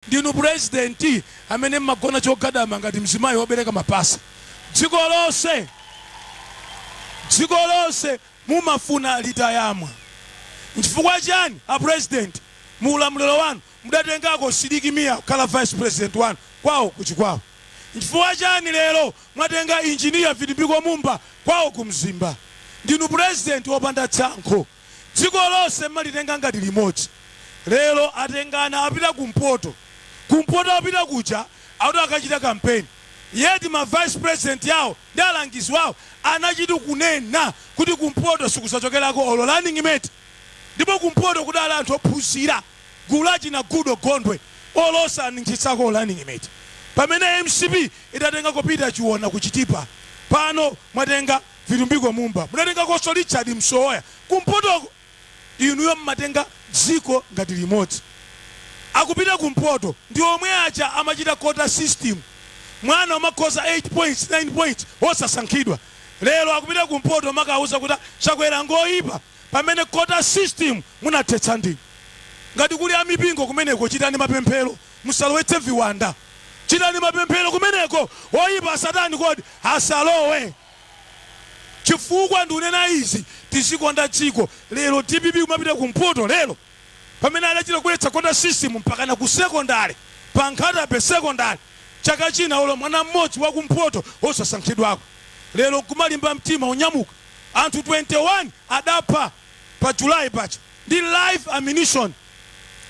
Ndinu president amene mmagona chogadama ngati mzimayi wobereka mapasa dziko lonse mumafuna litayamwa nchifukwa chani apresident muulamuliro wanu mudatengako Sidiki Mia kukhala vice president wanu kwao ku Chikwawa nchifukwa chani lero mwatenga engineer Vitumbiko Mumba kwao ku Mzimba ndinu president wopanda tsankho. Dziko lonse mmalitenga ngati limodzi. Lero atengana apita kumpoto. Kumpoto apita kuja akuti akachita campaign. Yet ma vice president awo ndi alangizi wawo anachita kunena kuti kumpoto sikuzachokerako olo running mate. Ndipo kumpoto kudali anthu ophunzira, gulu la achina Goodall Gondwe olo osaninkhitsako running mate. Pamene mcp idatengako Peter Chiona ku Chitipa. Pano mwatenga. Vitumbiko Mumba munatengakonso Richard Msowoya kumpotoko inuyo mmatenga dziko ngati limodzi. Akupita kumpoto ndi omwe aja amachita quota system mwana umakhoza 8 points 9 points osasankhidwa. Lero akupita kumpoto umakauza kuti Chakwera ngoipa pamene quota system munathetsa ndinu. Ngati kuli amipingo kumeneko chitani mapemphero. musalowetse viwanda chitani mapemphero kumeneko oyipa satani kodi asalowe chifukwa ndikunena izi tizikonda dziko lero dpp kumapita ku mpoto lero pamene adachita kubweretsa quota system mpaka na ku secondary pa Nkhata Bay secondary chaka china olo mwana mmodzi wa ku mpoto osasankhidwako lero kumalimba mtima unyamuka anthu 21 adapha pa july paja ndi live ammunition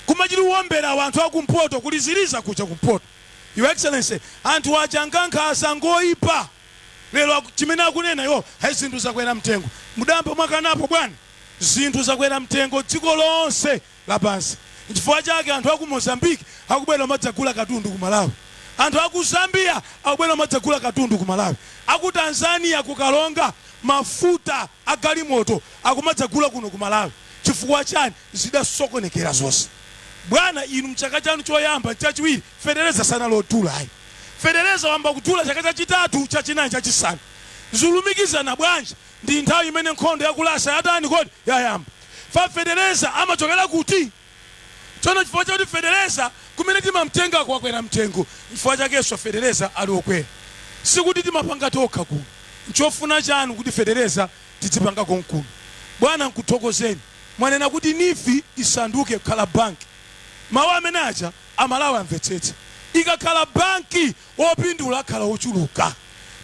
kumachita uwombera anthu akumpoto kuli ziliza kuja kumpoto your excellency anthu aja ngankhanza ngoipa lero aku, chimene akunena iwo hai zinthu zakwera mtengo mudayamba mwakanapo bwana zinthu zakwera mtengo dziko lonse lapansi nchifukwa chake anthu aku mozambique akubwera umadzagula katundu ku malawi anthu aku zambia akubwera umadzagula katundu ku malawi aku tanzania kukalonga mafuta agalimoto akumadzagula kuno ku malawi chifukwa chani zidasokonekera zonse. Bwana inu mchaka chanu choyamba, nchachiwiri fetereza sanali odula ayi. Fetereza wayamba kudula chaka chachitatu, chachinayi, chachisanu. Zulumikizana bwanji ndi nthawi imene nkhondo ya ku Russia yatani kodi? Yayamba. Fa fetereza amachokera kuti? Tsono chifukwa chakuti fetereza kumene timamtengako wakwera mtengo, nchifukwa chakenso fetereza ali okwera. Sikuti timapanga tokha kuno. Nchofuna chanu kuti fetereza tidzipanga konkuno? Bwana nkuthokozeni. mwanena kuti Neef isanduke kukhala bank. Mawu amene aja amalawi amvetsetse. Ikakhala bank opindula akhala ochuluka.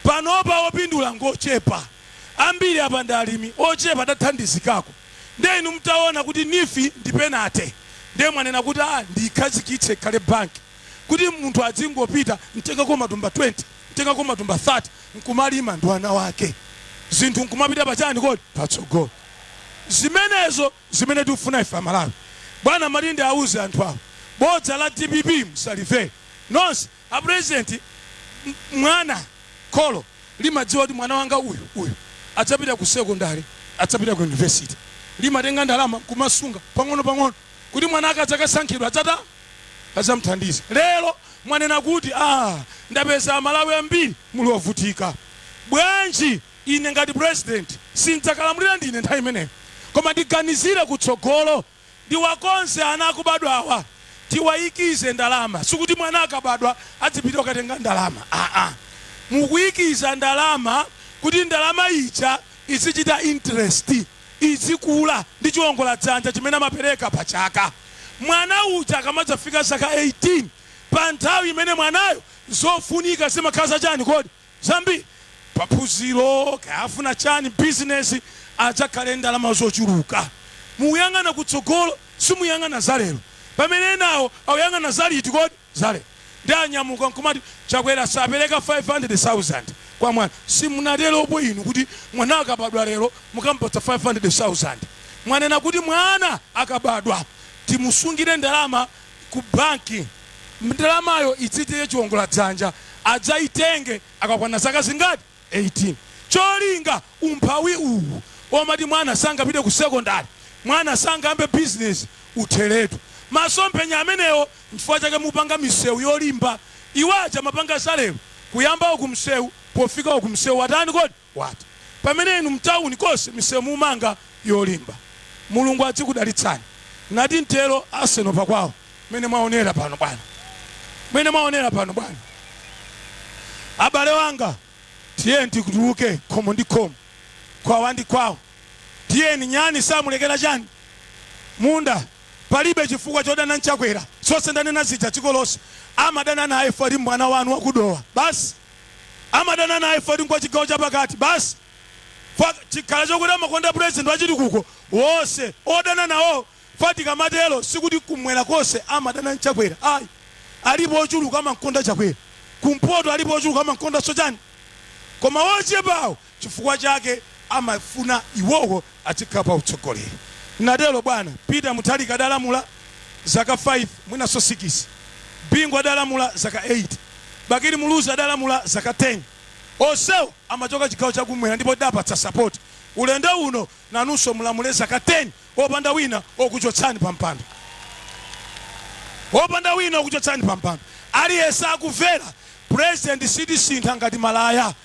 Panopa opindula ngochepa. Ambiri apa ndi alimi ochepa tathandizikako. Nde inu mtaona kuti Neef ndi penate nde mwanena kuti aah ndiikhazikitse ikhale bank kuti munthu adzingopita ntengako matumba 20 ntengako matumba 30 nkumalima ndi ana ake zinthu nkumapita pachani kodi? Patsogolo. zimenezo zimene tikufuna ife amalawi bwana malinde auze anthu awo bodza la dpp msalimvere nonse a president m- mwana kholo limadziwa kuti mwana wanga uyu uyu adzapita ku sekondari adzapita ku yunivesiti limatenga ndalama kumasunga pang'ono pang'ono kuti mwana akadzakasankhidwa adzata adzamthandiza lero mwanena kuti ah, ndapeza amalawi ambiri muli ovutika bwanji Ine ngati president sindzakalamulira ndine nthawi imeneyo koma ndiganizire kutsogolo ndiwakonze ana akubadwawa tiwayikize ndalama sikuti mwana akabadwa adzipita kukatenga ndalama aa mukuyikiza ndalama kuti ndalama ija izichita interest izikula ndi chiwongola dzanja chimene amapereka pa chaka mwana uja akamadzafika zaka 18 pa nthawi imene mwanayo zofunika zimakhala za chani kodi zambiri pa phunziro kaya afuna chani business adzakhale ndalama zochuluka mukuyang'ana kutsogolo simuyang'ana za lero pamene enawo akuyang'ana za liti kodi za lero nde anyamuka nkumati chakwera sapereka 500,000 kwa mwana simunateropo inu kuti mwana akabadwa lero mukamupatsa 500,000 mwanena kuti mwana akabadwa timusungire ndalama ku banki ndalamayo idzitire chiwongola dzanja adzaitenge akakwana zaka zingati 18 cholinga umphawi uwu omati mwana sangapite ku sekondari mwana sangayambe bizinesi utheretu masomphenya amenewo nchifukwa chake mupanga misewu yolimba iwaja amapanga zalero kuyamba uku msewu pofika uku msewu watani kodi Watha. Pamene inu mtauni konse misewu mumanga yolimba. Mulungu adzikudalitsani ngati mtero Arsenal pa kwawo. Mmene mwaonera pano bwana. Mmene mwaonera pano bwana. Abale wanga tiyeni tituluke khomo ndi khomo, kwawa ndi kwawo. Tiyeni nyani samulekera chani? Munda. Palibe chifukwa chodana n'chakwera. Zonse ndanena zija dziko lonse amadana naye fukwa mwana wanu waku Dowa. Basi. amadana naye poti ngwa chigawo chapakati basi fukwa chikhala chokuti amakonda president wachitukuko wose odana nawo fukwa tikamatero sikuti kumwera kose amadana nchakwera ayi alipo ochuluka amankonda chakwera kumpoto alipo ochuluka amankonda sochani koma wochepawo Chifukwa chake amafuna iwowo adzikhala pa utsogoleri. Natelo bwana Peter Mutharika adalamula zaka 5 mwinaso sikisi, Bingu adalamula zaka 8, Bakili Muluzi adalamula zaka 10. Onsewo amachoka chigawo cha kumwera ndipo tidawapatsa sapoti. Ulendo uno nanunso mulamule zaka 10 opanda wina okuchotsani pa mpando. Opanda wina okuchotsani pa mpando. Aliyense akumvera president sitisintha ngati malaya.